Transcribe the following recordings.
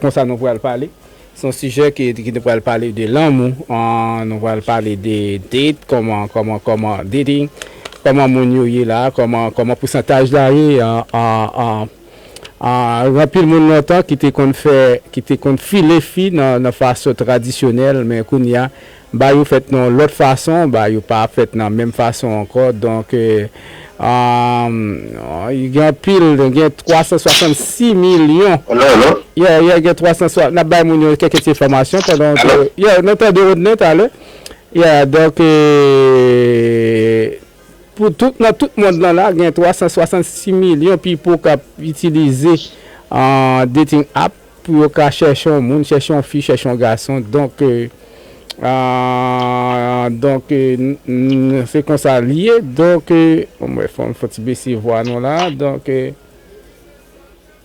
Konsa nou pral pale. Se yon sijè ki nou pral pale de lanmou, nou pral pale de date, kòman, kòman, kòman dating, kòman moun yo ye la, kòman, kòman pousantaj la ye an anpil moun lontan ki te konn fè, ki te konn file fi nan fason tradisyonèl men kounye a Ba yo fèt nan yon lòt fason, ba yo pa ap fèt nan menm fason ankò. Donk, gen anpil, gen 366 milyon. Alo, alo? Ye, ye, gen 360, n ap bay moun yo kèk ti enfòmasyon pandan w te. Alo? Ye, nou tande ou nen talè. Ye, donk, pou tout, nan tout mond lan la, gen 366 milyon pipo k ap itilize dating app. Pou yo ka chèche yon moun, chèche yon fi, chèche yon gason, donk, donk, se konsa l ye, donk, banm wè fò m fè yon ti bese vwa nou la, donk,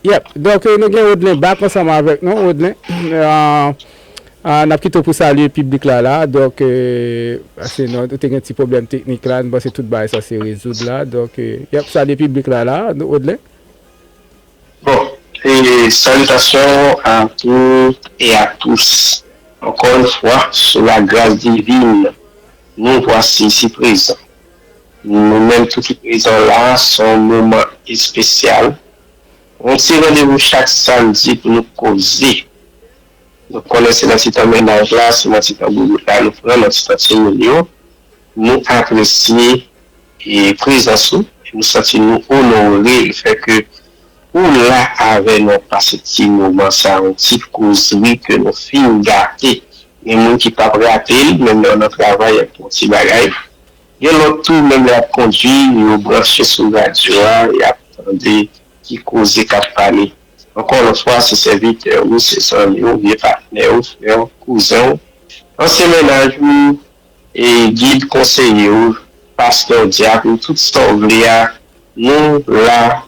yep, donk nou gen Rodelin back ansanm avèk nou, Rodelin, n ap kite w pou salye piblik la la, donk, pase nou te gen ti pwoblèm teknik la, m panse tout bagay sa se rezoud la, donk, yep, salye piblik la la, Rodelin. Bon e salitasyon a tou e a tous ankò yn fwa sou la gras divin nou vwasi isi prezan nou menm tou ki prezan la son moman espesyal yon ti randevou chak samdi pou nou koze nou konnen se nan ti tan mennaj la se nan ti tan boubout la nou pran nan ti tan timoun yo Nou apresye prezans ou e nou santi nou onore le fè ke ou la avè nou ap pase ti moman sa yon ti kozri ke nou fin gate gen moun ki pap rate l menm lè yo nan travay yap pran ti bagay gen lòt tou menm lè yap kondwi yo branche sou radyo a yap tande ki koze kap pale ankò lòt fwa se sèvitè ou se zanmi ou vye patnè ou frè ou kouzen ou ansyen mennaj ou Gid, konseye w, pastè w, dyak ou, tout sa w vle a, nou la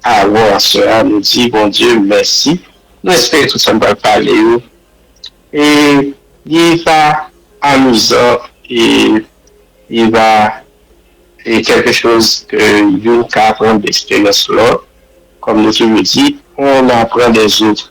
avè w aswè a, nou di Bondye mèsi, nou espere tout sa n pral pale yo li va amizan e li va kèlke choz ke youn ka aprann de eksperyans lòt, kòm nou toujou di, on apran dè zot.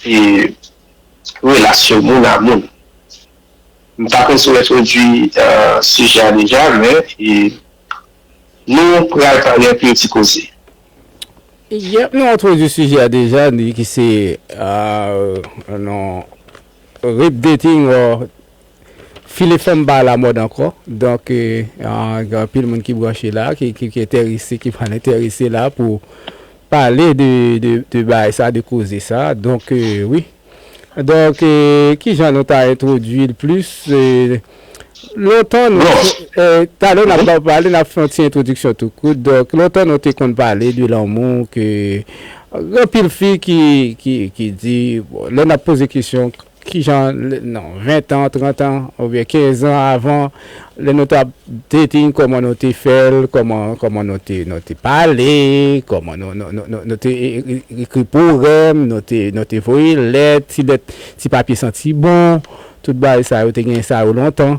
Se relasyon moun a moun. M ta panse w entwodui sijè a deja men nou pral pale anpil ti koze. Yep nou entwodui sijè a deja ki se non rape dating or File fanm pa ala mòd ankò donk gen anpil moun ki branche la ki entèrese ki pral entèrese la pou pale de bagay sa de koze sa donk wi donk kijan nou ta entwodui l plis lontan nou talè n ap ba w pale n ap fè yon ti entwodiksyon tou kout donk lontan nou te konn pale de lanmou ke gen anpil fi ki di lè n ap poze kesyon Kijan nan 20 tan, 30 tan, oubyen 15 zan avan, lè nou tap dating, kòman nou te fèl, kòman, kòman nou te, nou te pale, kòman nou, nou, nou, nou, nou te ekri powèm, nou te, nou te voye lèt, ti lèt, ti papye santi bon, tout bagay sa yo, te gen sa yo lontan.